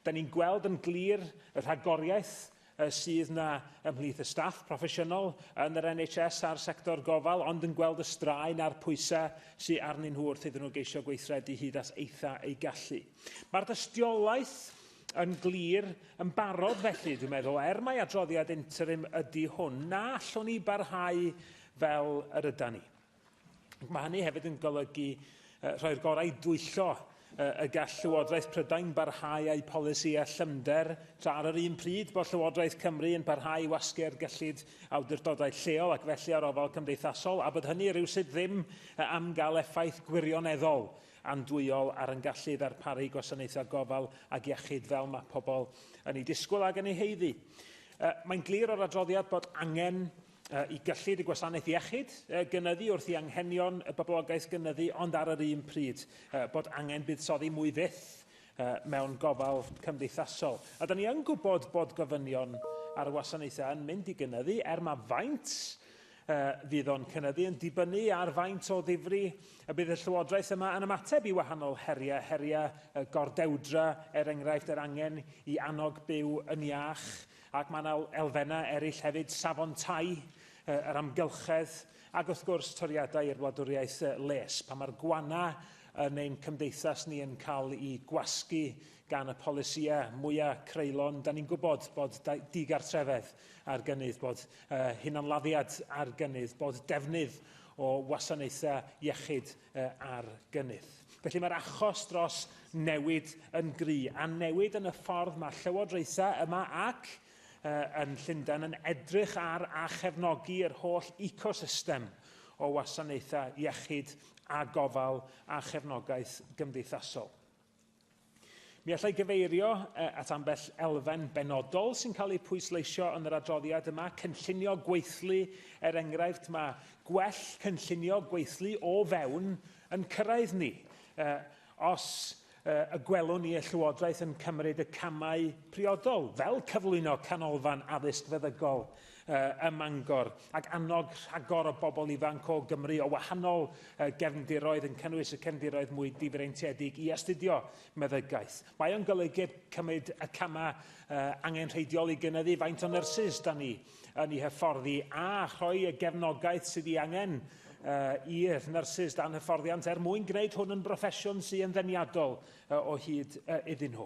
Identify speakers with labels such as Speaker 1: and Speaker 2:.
Speaker 1: Da ni'n gweld yn glir y rhagoriaeth sydd yna ymhlith y staff proffesiynol yn yr NHS a'r sector gofal, ond yn gweld y straen a'r pwysau sydd arnyn nhw wrth iddyn nhw geisio gweithredu hyd at eitha ei gallu. Mae'r dystiolaeth yn glir yn barod felly, dwi'n meddwl, er mai adroddiad interim ydy hwn, na allwn ni barhau fel yr ydan ni. Mae hynny hefyd yn golygu uh, rhoi'r gorau i dwyllo uh, y gall Llywodraeth Prydain barhau â'i polisi a llymder tra ar yr un pryd bod Llywodraeth Cymru yn parhau i wasgu'r gyllid awdurdodau lleol ac felly ar ofal cymdeithasol a bod hynny rhywsut ddim uh, am gael effaith gwirioneddol andwyol ar yn gallu ddarparu gwasanaethau gofal ac iechyd fel mae pobl yn ei disgwyl ac yn ei heiddi. Uh, mae'n glir o'r adroddiad bod angen i gyllid y gwasanaeth iechyd gynyddu wrth i anghenion y boblogaeth gynyddu, ond ar yr un pryd bod angen buddsoddi mwy fyth mewn gofal cymdeithasol. A da ni yn gwybod bod gofynion ar y wasanaethau yn mynd i gynyddu, er mae faint fydd o'n cynyddu yn dibynnu ar faint o ddifri y bydd y Llywodraeth yma yn ymateb i wahanol heriau, heriau gordewdra, er enghraifft yr angen i annog byw yn iach, Ac mae yna elfennau eraill hefyd, safon tai, yr amgylchedd, ac wrth gwrs toriadau i'r wladwriaeth les. Pan mae'r gwana yn ein cymdeithas ni yn cael eu gwasgu gan y polisïau mwyaf creulon, da ni'n gwybod bod digartrefedd ar gynnydd, bod hunanladdiad ar gynnydd, bod defnydd o wasanaethau iechyd ar gynnydd. Felly mae'r achos dros newid yn gry, a newid yn y ffordd mae llywodraethau yma ac yn Llundain yn edrych ar a chefnogi yr holl ecosystem o wasanaethau iechyd a gofal a chefnogaeth gymdeithasol. Mi allai gyfeirio at ambell elfen benodol sy'n cael eu pwysleisio yn yr adroddiad yma, cynllunio gweithlu, er enghraifft, mae gwell cynllunio gweithlu o fewn yn cyrraedd ni. Os y gwelwn ni y Llywodraeth yn cymryd y camau priodol, fel cyflwyno canolfan addysg feddygol, ym Mangor, ac annog rhagor o bobl ifanc o Gymru o wahanol gefndiroedd, yn cynnwys y cefndiroedd mwy difreintiedig, i astudio meddygaeth. Mae o'n golygu cymryd y camau angenrheidiol i gynyddu faint o nyrsys da ni yn eu hyfforddi a rhoi y gefnogaeth sydd ei angen i'r nyrsys dan hyfforddiant er mwyn gwneud hwn yn broffesiwn sy'n ddeniadol o hyd iddyn nhw.